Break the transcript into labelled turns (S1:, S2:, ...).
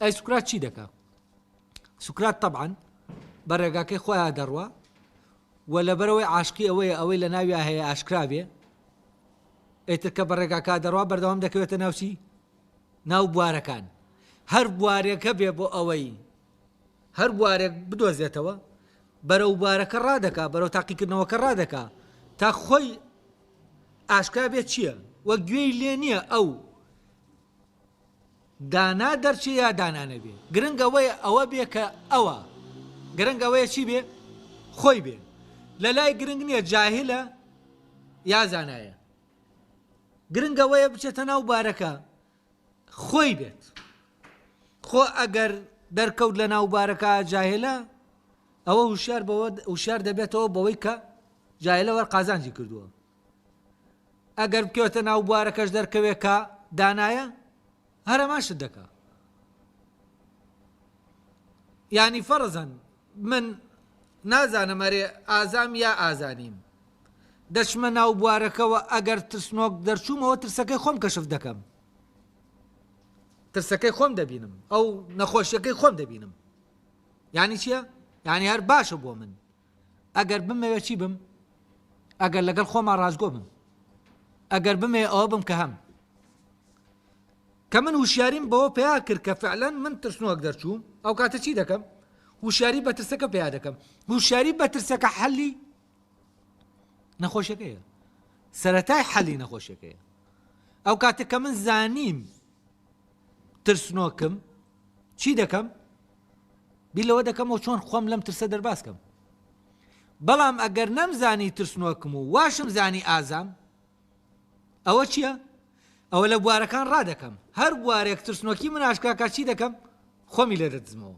S1: ئەی سوکرات چی دەکا سوکرات طبعاً بە ڕێگاکەی خۆیان دەڕوا و لەبەرەوەی عاشقی ئەوەیە ئەوەی لە ناویا هەیە ئاشکراوێ ئێتر کە بە ڕێگاکە دەڕوا بەردەوام دەکەوێتە ناوچی ناو بوارەکان هەر بوارێکە بێ بۆ ئەوەی هەر بوارێک بدۆزێتەوە بەرەو بوارەکە ڕادەکا بەرەو تاقیکردنەوەکە ڕادەکا تا خۆی ئاشکرا بێت چییە وە گوێی لێ نییە ئەو دانا دەرچێ یا دانا نەبێ گرنگ ئەوەیە ئەوە بێ کە ئەوە گرنگ ئەوەیە چی بێ خۆی بێ لە لای گرنگ نییە جاهلە یا زانایە گرنگ ئەوەیە بچێتە ناو بارەکە خۆی بێت خۆ ئەگەر دەرکەوت لە ناو بارەکە جاهلە ئەوە هوشیار بەوە هوشیار دەبێتەوە بەوەی کە جاهلەوە قازانجی کردووە ئەگەر بکەوێتە ناو بوارەکەش دەرکەوێت کە دانایە هەر هەمان شت دەکا ینی فەرزەن من نازانم ئەرێ ئازام یا ئازانیم دەچمە ناو بوارەکەەوە ئەگەر ترسنۆک دەرچوومەوە ترسەکەی خۆم کەشف دەکەم ترسەکەی خۆم دەبینم ئەو نەخۆشیەکەی خۆم دەبینم ینی چییە؟ ینی هەر باشە بۆ من ئەگەر بمەوێ چی بم؟ ئەگەر لەگەڵ خۆما ڕاستگۆ بم ئەگەر بمێ ئەوە بم کە هەم کە من وشیاریم بەوە پیا کرد کە فعلەن من ترسنۆک دەرچووم ئەو کاتە چی دەکەم وشیاری بەترسەکە پیا دەکەم وشیاری بەترسەکە حەلی نەخۆشەکەیە سەتای حەلی نەخۆشەکەیە ئەو کاتە کە من زانیم ترسنۆکم چی دەکەم بیر لەوە دەکەمەوە چۆن خۆم لەم ترسە دەرباز کەم بەڵام ئەگەر نەمزانی ترسنۆکم و واشم زانی ئازام ئەوە چییە؟ ئەوە لە بوارەکان ڕادەکەم هەر بوارێک ترسنۆکی مناشکاکە چی دەکەم خۆمی لێ دەدزمەوە